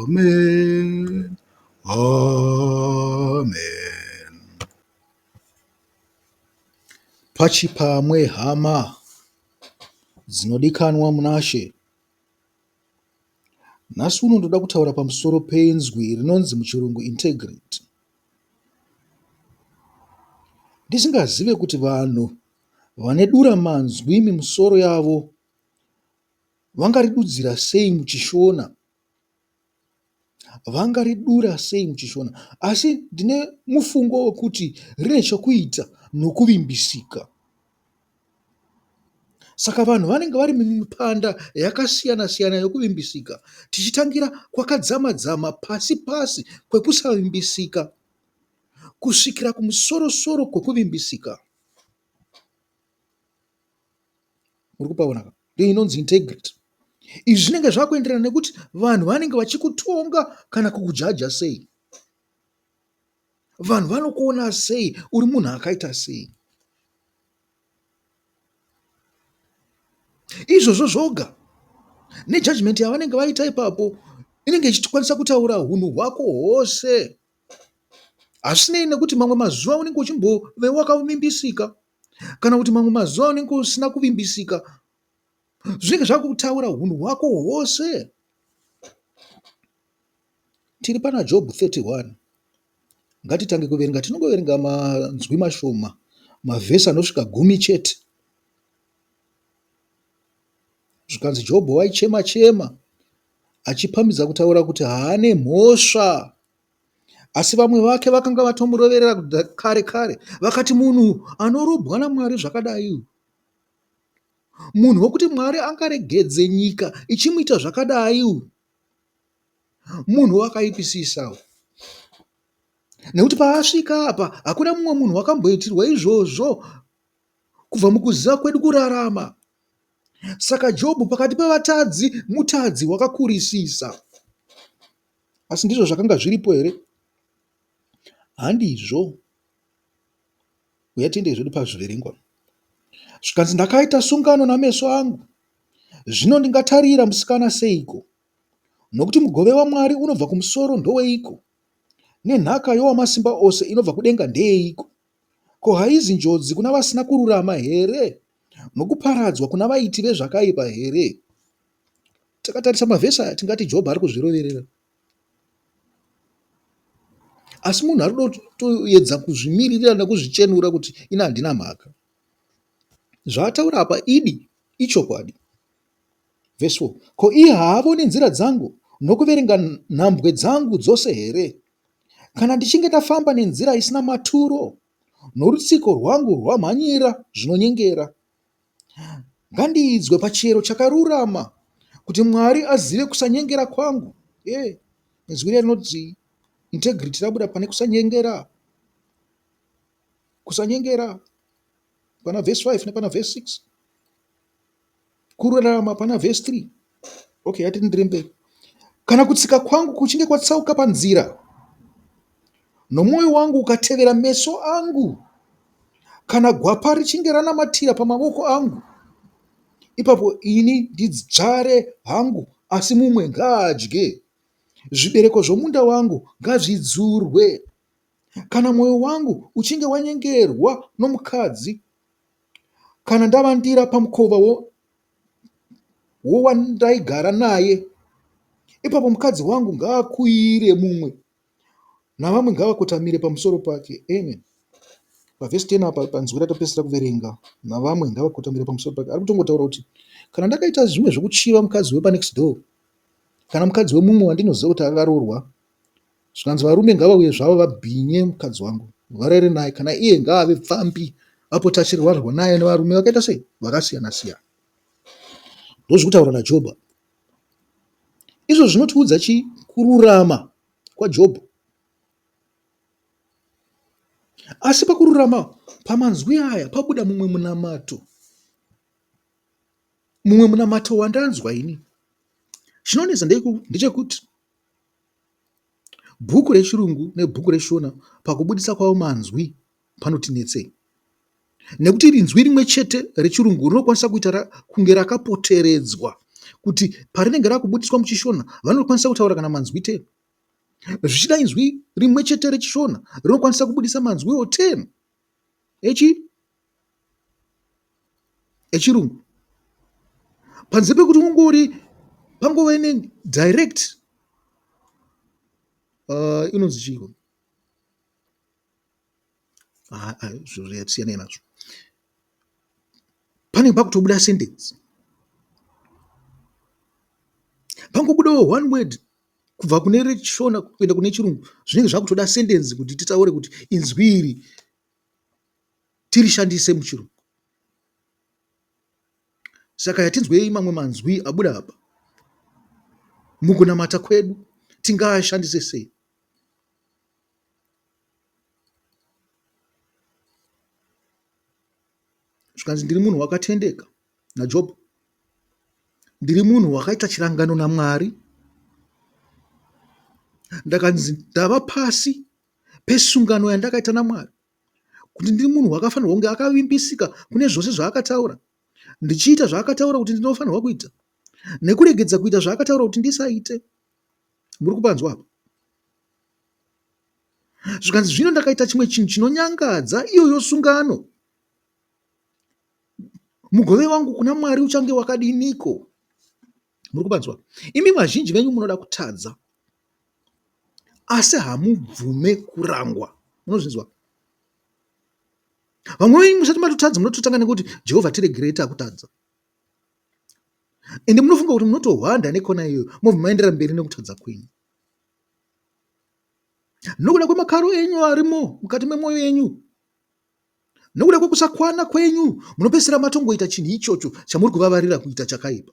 Amen. Amen. Pachipamwe hama dzinodikanwa munashe. Nhasi uno ndoda kutaura pamusoro penzwi rinonzi muchirungu integrity. Ndisingazive kuti vanhu vane dura manzwi mimusoro yavo Vangaridudzira sei muchishona vangaridura sei muchishona asi ndine mufungo wekuti rine chokuita nokuvimbisika saka vanhu vanenge vari mumipanda yakasiyana siyana yokuvimbisika tichitangira kwakadzama dzama pasi pasi kwekusavimbisika kusvikira kumusorosoro kwekuvimbisika Muri kupaona ka? Ndiyo inonzi integrity. Izvi zvinenge zvakuenderana nekuti vanhu vanenge vachikutonga kana kukujaja sei. Vanhu vanokuona sei uri munhu akaita sei. Izvozvo zvoga nejudgment yavanenge vaita ipapo inenge ichitikwanisa kutaura hunhu hwako hwose hazvisinei nekuti mamwe mazuva unenge uchimbove wakavimbisika kana kuti mamwe mazuva unenge usina kuvimbisika zvinenge zvakutaura hunhu hwako hwose tiri pana job 31 ngatitange kuverenga tinongoverenga manzwi mashoma mavhesi anosvika gumi chete zvikanzi jobho waichema chema achipamidza kutaura kuti haane mhosva Asi vamwe vake vakanga vatomuroverera kare kare vakati munhu anorobwa naMwari zvakadai uyu. Munhu wekuti Mwari angaregedze nyika ichimuita zvakadai uyu. Munhu wakaipisisa uyu. Nekuti paasvika apa hakuna mumwe munhu wakamboitirwa izvozvo kubva mukuziva kwedu kurarama. Saka Jobhu pakati pevatadzi mutadzi wakakurisisa. Asi ndizvo zvakanga zviripo here? Handizvo. Uya tiende zvedu pazviverengwa. Zvikanzi, Ndakaita sungano nameso angu, zvino ndingatarira musikana seiko? Nokuti mugove waMwari unobva kumusoro ndoweiko? Nenhaka yowamasimba ose inobva kudenga ndeyeiko? Ko haizi njodzi kuna vasina kururama here? Nokuparadzwa kuna vaiti vezvakaipa here? Takatarisa mavhesi aya tingati Jobho ari kuzviroverera. Asi munhu ari kutoedza kuzvimiririra nekuzvichenura kuti ini handina mhaka. Zvaataura apa idi ichokwadi. Vhesi 4 ko iye haavoni nzira dzangu nokuverenga nhambwe dzangu dzose here? Kana ndichinge ndafamba nenzira isina maturo, norutsiko rwangu rwamhanyira zvinonyengera, Ngandiidzwe pachero chakarurama kuti Mwari azive kusanyengera kwangu. Hey, izwi riya rinoti integrity rabuda pane kusanyengera. Kusanyengera pana verse 5 nepana verse 6. Kururama pana verse 3. Okay, ngatienderere mberi. Kana kutsika kwangu kuchinge kwatsauka panzira, nomwoyo wangu ukatevera meso angu, kana gwapa richinge ranamatira pamavoko angu, ipapo ini ndidzvare hangu, asi mumwe ngaadye. Zvibereko zvomunda wangu ngazvidzurwe. Kana mwoyo wangu uchinge wanyengerwa nomukadzi, kana ndavandira pamukova wo- wandaigara naye ipapo mukadzi wangu ngaakuire mumwe navamwe ngavakotamire pamusoro pake amen pavhesi 10 apa panzwi ratopedzisira kuverenga navamwe ngavakotamire pamusoro pake ari kutongotaura kuti kana ndakaita zvimwe zvekuchiva mukadzi wepanext door kana mukadzi wemumwe wandinoziva kuti akaroorwa Zvikanzi varume ngavauye zvavo vabhinye mukadzi wangu varere naye kana iye ngaave pfambi apota achirwarwa naye nevarume vakaita sei vakasiyana siyana. Ndozvikutaura naJobho. Izvo zvinotiudza chii? Kururama kwaJobho. Asi pakururama pamanzwi aya pabuda mumwe munamato mumwe munamato wandanzwa ini chinonetsa ndechekuti Bhuku reChirungu nebhuku reShona pakubudisa kwavo manzwi panoti netsei nekuti inzwi rimwe chete reChirungu rinokwanisa kuita kunge rakapoteredzwa kuti parinenge rakubudiswa muchiShona vanokwanisa kutaura kana manzwi ten zvichida inzwi rimwe chete reChishona rinokwanisa kubudisa manzwiwo ten. echirungu panze pekuti ungori pangove ne direct inonzi chii ikona siyanai nazvo panenge pakutobuda sentence pangobudawo one word kubva kune rechishona kuenda kune chirungu zvinenge zvakutoda sendenzi kuti titaure kuti inzwi iri tirishandise muchirungu. Saka yatinzwei mamwe manzwi abuda apa mukunamata kwedu tingaashandise sei? zvikanzi ndiri munhu wakatendeka naJob ndiri munhu wakaita chirangano naMwari. Ndakanzi ndava pasi pesungano yandakaita naMwari kuti ndiri munhu wakafanirwa kunge akavimbisika kune zvose zvaakataura ndichiita zvaakataura kuti ndinofanirwa kuita nekuregedza kuita zvaakataura kuti ndisaite muri kupanzwa apa zvikanzi zvino ndakaita chimwe chinhu chinonyangadza iyoyo sungano Mugove wangu kuna Mwari uchange wakadiniko? Muri kupanzwa? Imi vazhinji venyu munoda kutadza, asi hamubvume kurangwa. Munozvinzwa? Vamwe venyu musati matotadza munototanga nekuti Jehovha tiregerei takutadza. Ende munofunga kuti munotohwanda nekona iyoyo mobva maendera mberi nekutadza kwenyu nokuda kwemakaro enyu arimo mukati memwoyo yenyu Nokuda kwekusakwana kwenyu munopedzisira matongoita chinhu ichocho chamuri kuvavarira kuita chakaipa.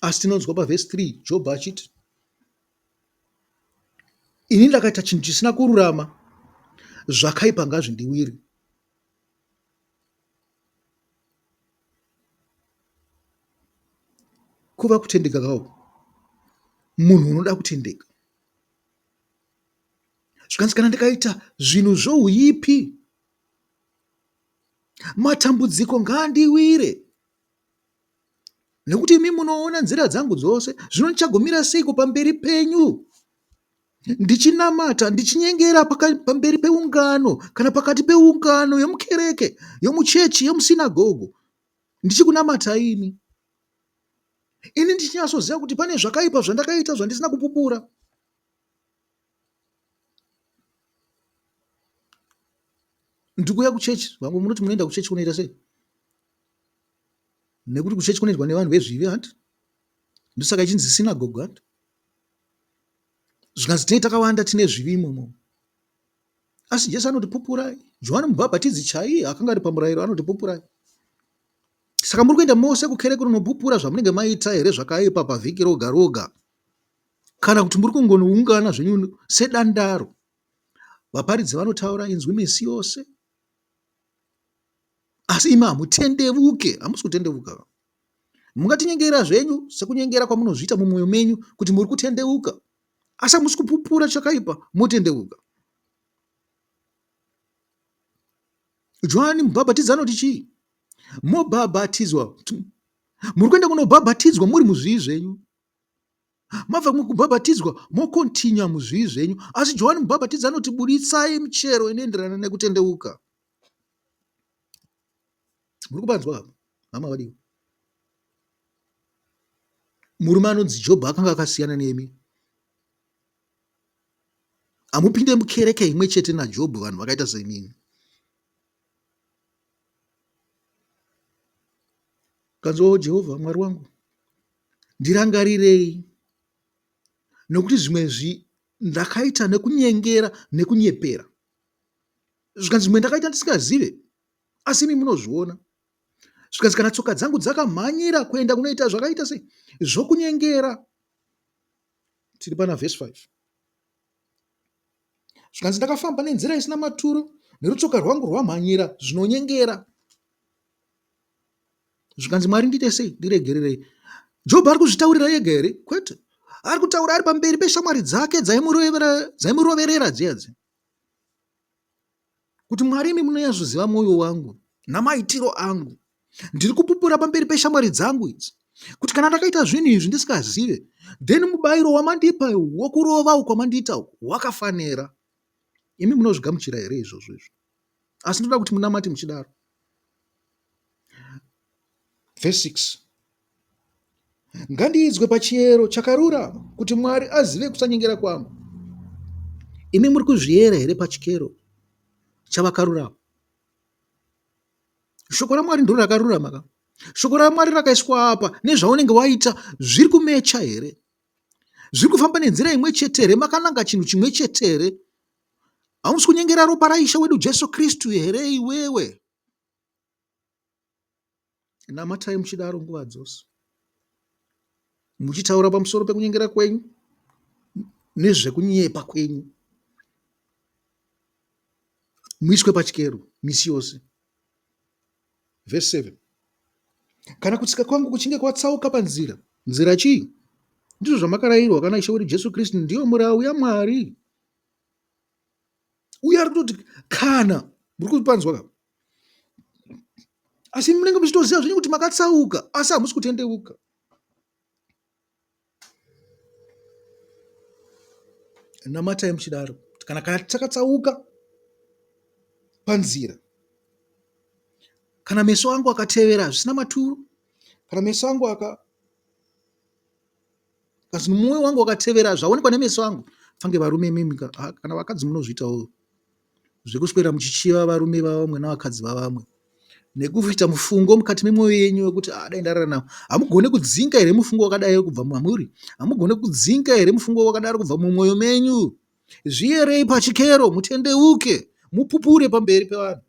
Asi tinonzwa pavhesi 3 Jobho achiti, Ini ndakaita chinhu chisina kururama, zvakaipa ngazvindiwire. Kuva kutendeka kako munhu unoda kutendeka zvikanzi kana ndikaita zvinhu zvouipi matambudziko ngaandiwire nekuti imi munoona nzira dzangu dzose zvino ndichagomira seiko pamberi penyu ndichinamata ndichinyengera pamberi peungano kana pakati peungano yomukereke yomuchechi yomusinagogo ndichikunamata ini ini ndichinyasoziva kuti pane zvakaipa zvandakaita zvandisina kupupura ndikuuya kuchechi vamwe munoti munoenda kuchechi kunoita sei nekuti kuchechi kunoendwa nevanhu vezvivi hanti ndosaka ichinzi sinagogo hanti Zvikanzi tinenge takawanda tine zvivi imomo. Asi Jesu anoti pupurai. Johani Mubhabhatidzi chaiye akanga ari pamurayiro anoti pupurai. Saka muri kuenda mose kukereke kunopupura zvamunenge maita here zvakaipa pavhiki roga roga? Kana kuti muri kungonoungana zvenyu sedandaro? Vaparidzi vanotaura inzwi misi yose. Asi imi hamutendevuke, hamusi kutendevuka. Mungatinyengerera zvenyu sekunyengera kwamunozviita mumwoyo menyu kuti muri kutendeuka, asi hamusi kupupura chakaipa motendeuka. Johani mubhabhatidzi anoti chii? Mobhabhatidzwa, muri kuenda kunobhabhatidzwa muri muzvii zvenyu, Mabva mukubhabhatidzwa mokontinua muzvivi zvenyu. Asi Johani Mubhabhatidzi anoti buditsai michero inoenderana nekutendeuka. Muri kubanzwa apa, hama vadiwa. Murume anonzi Jobho akanga akasiyana nemi. Hamupinde mukereke imwe chete naJobho vanhu vakaita senini. Kanzwawo Jehovha Mwari wangu. Ndirangarirei, nokuti zvimwe zvi, ndakaita nekunyengera nekunyepera, zvikanzi zvimwe ndakaita ndisingazive, asi imi munozviona. Zvikanzi kana tsoka dzangu dzakamhanyira kuenda kunoita zvakaita sei zvokunyengera. Tiri pana vhesi 5 zvikanzi ndakafamba nenzira isina maturo nerutsoka rwangu rwamhanyira zvinonyengera zvikanzi Mwari ndiite sei ndiregererei. Jobho ari kuzvitaurira ega here? Kwete, ari kutaura ari pamberi peshamwari dzake dzaimuroverera dziyadzi kuti Mwari imi munoyazoziva mwoyo wangu namaitiro angu. Ndiri kupupura pamberi peshamwari dzangu idzi kuti kana ndakaita zvinhu izvi ndisikazive then mubayiro wamandipa wokurova uko mandiita uko wakafanira. Imi munozvigamuchira here izvozvo izvo? asi ndoda kuti munamate muchidaro vhesi 6 ngandiidzwe pachiyero chakarurama kuti mwari azive kusanyengera kwangu imi muri kuzviyera here pachikero chavakarurama shoko ramwari ndiro rakarurama ka shoko ramwari rakaiswa apa nezvaunenge waita zviri kumecha here zviri kufamba nenzira imwe chete here makananga chinhu chimwe chete here Hausi kunyengera ropa raIshe wedu Jesu Kristu here iwewe? Namatai muchidaro nguva dzose, muchitaura pamusoro pekunyengera kwenyu nezvekunyepa kwenyu. Muiswe pachikero misi yose. Verse 7 kana kutsika kwangu kuchinge kwatsauka panzira nzira chii ndizvo zvamakarayirwa kana ishe wedu jesu kristu ndiyo murau yamwari uye ari kutoti kana muri kupanzwa ka asi munenge muchitoziva zvenyu kuti makatsauka asi hamusi kutendeuka namatai muchidaro kana kana takatsauka panzira kana meso angu akatevera zvisina maturo kana meso angu aka Because mumwoyo wangu wakatevera zvaonekwa nemeso angu fange varume imimi ka ha, kana vakadzi munozviitawo zvekuswera muchichiva varume vavamwe navakadzi vavamwe nekuita mufungo mukati memwoyo yenyu wekuti ah, dai ndarara navo hamugone kudzinga here mufungo wakadai kubva mamuri hamugone kudzinga here mufungo wakadaro kubva mumwoyo menyu zviyerei pachikero mutendeuke mupupure pamberi pevanhu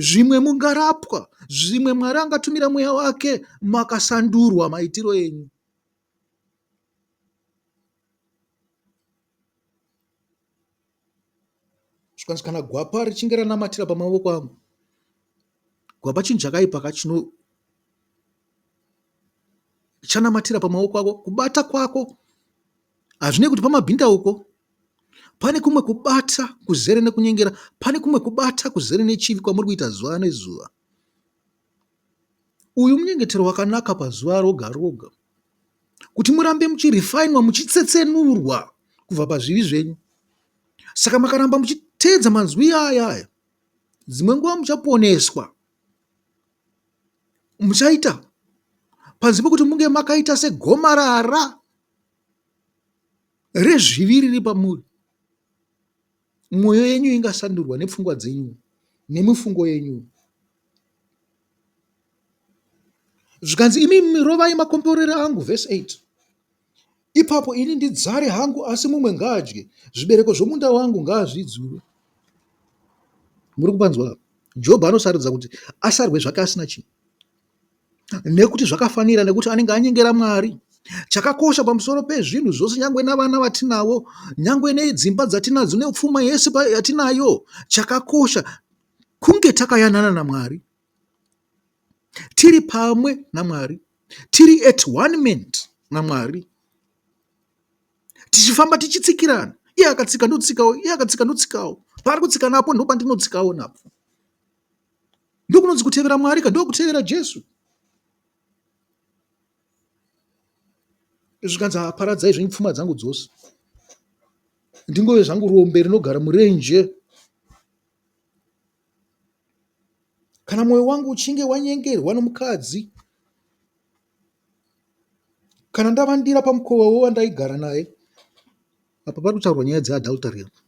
Zvimwe mungarapwa, zvimwe Mwari angatumira mweya wake makasandurwa maitiro enyu. Zvikanzi kana gwapa richinge ranamatira pamavoko angu, gwapa chinhu chakaipa ka chino chanamatira pamawoko ako kubata kwako Hazvinei kuti pamabhindauko pane kumwe kubata kuzere nekunyengera, pane kumwe kubata kuzere nechivi kwamuri kuita zuva nezuva. Uyu munyengetero wakanaka pazuva roga roga kuti murambe muchirifainwa muchitsetsenurwa kubva pazvivi zvenyu. Saka makaramba muchiteedza manzwi aya aya, dzimwe nguva muchaponeswa. Muchaita panze pekuti munge makaita segomarara rezvivi riri pamuri. Mwoyo yenyu ingasandurwa nepfungwa dzenyu nemifungo yenyu. Zvikanzi imi rovai makomborero angu, verse 8 ipapo ini ndidzare hangu, asi mumwe ngaadye, zvibereko zvomunda wangu ngaazvidzure. Muri kupanzwa? Jobho anosarudza kuti asarwe zvake asina chinhu. nekuti zvakafanira nekuti anenge anyengera Mwari. Chakakosha pamusoro pezvinhu zvose nyangwe navana vatinavo, nyangwe nedzimba dzatinadzo nepfuma yese yatinayo, chakakosha kunge takayanana naMwari, tiri pamwe naMwari, tiri at one ment naMwari, tichifamba tichitsikirana, iye akatsika ndotsikawo, iye akatsika ndotsikawo, paari kutsika napo ndopandinotsikawo napo. ndokunonzi kutevera mwari ka ndokutevera jesu zvikanzi paradzai zvenyu pfuma dzangu dzose ndingove zvangu rombe rinogara murenje kana mwoyo wangu uchinge wanyengerwa nomukadzi Kana ndavandira pamukova wewandaigara naye apa parikutaurwa nyaya dze adultery apa.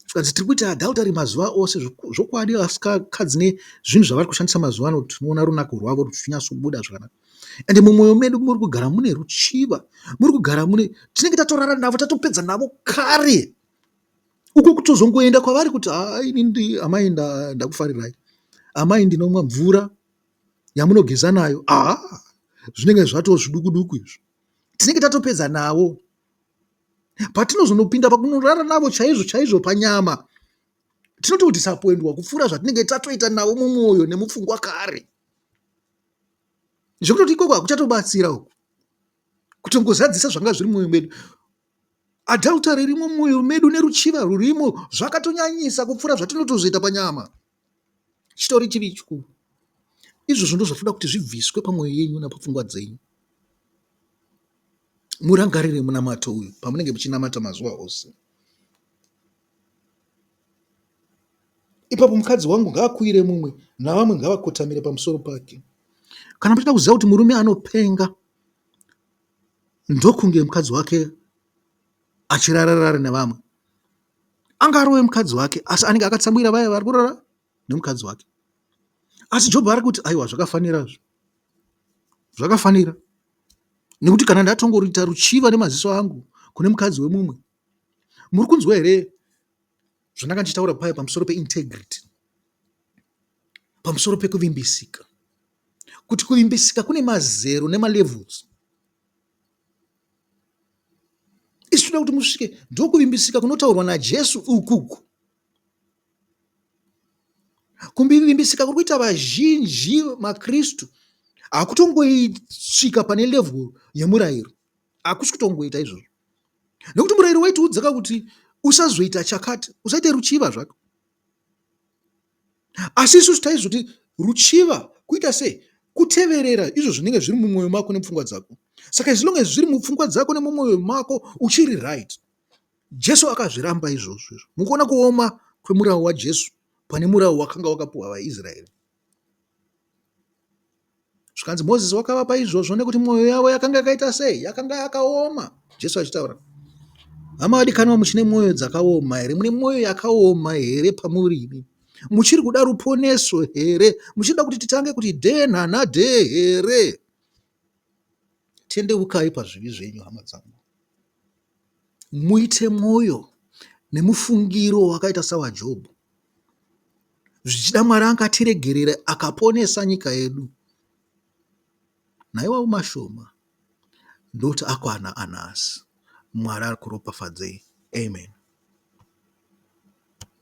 Zvikanzi tirikuita adultery mazuva ose zvokwadi vakadzi nezvinhu zvavari kushandisa mazuva ano tinoona runako rwavo ruchinyatsobuda zvakanaka ende mumoyo medu murikugara mune ruchiva murikugara mune tinenge tatorara navo tatopedza navo kare. Uko kutozongoenda kwavari kuti haa inini amai ndakufarirai, amai ndinomwa mvura yamunogeza nayo haa zvinenge zvatoo zviduku duku izvo tinenge tatopedza nawo patinozonopinda pakunorara navo chaizvo chaizvo panyama tinoti kuti sapoendwa kupfuura zvatinenge tatoita navo mumwoyo nemupfungwa kare zvekutoti ikoko hakuchatobatsira uku kutongozadzisa zvanga zviri mumwoyo medu Adultery irimo mumwoyo medu neruchiva rurimo zvakatonyanyisa kupfuura zvatinotozoita panyama. Chitori chivi chikuru. Izvozvo ndozvatoda kuti zvibviswe pamwoyo yenyu napapfungwa dzenyu. Murangarire munamato uyu pamunenge muchinamata mazuva ose. Ipapo mukadzi wangu ngaakuire mumwe navamwe ngavakotamire pamusoro pake. Kana muchida kuziva kuti murume anopenga ndokunge mukadzi wake achirara rara nevamwe. Anga arove mukadzi wake asi anenge akatsamwira vaya vari kurara nemukadzi wake. Asi Jobho ari kuti aiwa zvakafanira izvo. Zvakafanira. Nekuti kana ndatongorita ruchiva nemaziso angu kune mukadzi wemumwe. Muri kunzwa here zvandanga ndichitaura paya pamusoro peintegrity? Pamusoro pekuvimbisika. kuti kuvimbisika kune mazero nemalevels. Isu tinoda kuti musvike ndokuvimbisika kunotaurwa naJesu ukuku. Kuvimbisika kuri kuita vazhinji maKristu hakutongoisvika pane level yemurayiro, hakusi kutongoita izvozvo, nekuti murayiro waitiudza ka kuti usazoita chakati, usaite ruchiva zvako Asi isusu taizoti ruchiva kuita sei? Kuteverera izvo zvinenge zviri mumwoyo mako nemupfungwa dzako. Saka as long as zviri mupfungwa dzako nemumwoyo mako uchiri right. Jesu akazviramba izvozvo izvo. Mukuona kuoma kwemurau waJesu pane murau wakanga wakapuwa vaIsraeri. Zvikanzi, Mozisi wakavapa izvozvo nekuti mwoyo yavo yakanga yakaita sei? Yakanga yakaoma. Jesu achitaura. Hama vadikanwa, muchine mwoyo dzakaoma here? Mune mwoyo yakaoma here pamuri imi? Muchiri kuda ruponeso here? Muchida kuti titange kuti dhee nhana dhee here? Tendeukai pazvivi zvenyu, hama dzangu. Muite mwoyo nemufungiro wakaita sawaJobho. Zvichida Mwari angatiregerera akaponesa nyika yedu. Naiwawo mashoma ndoti akwana anasi. Mwari akuropafadzei. Amen.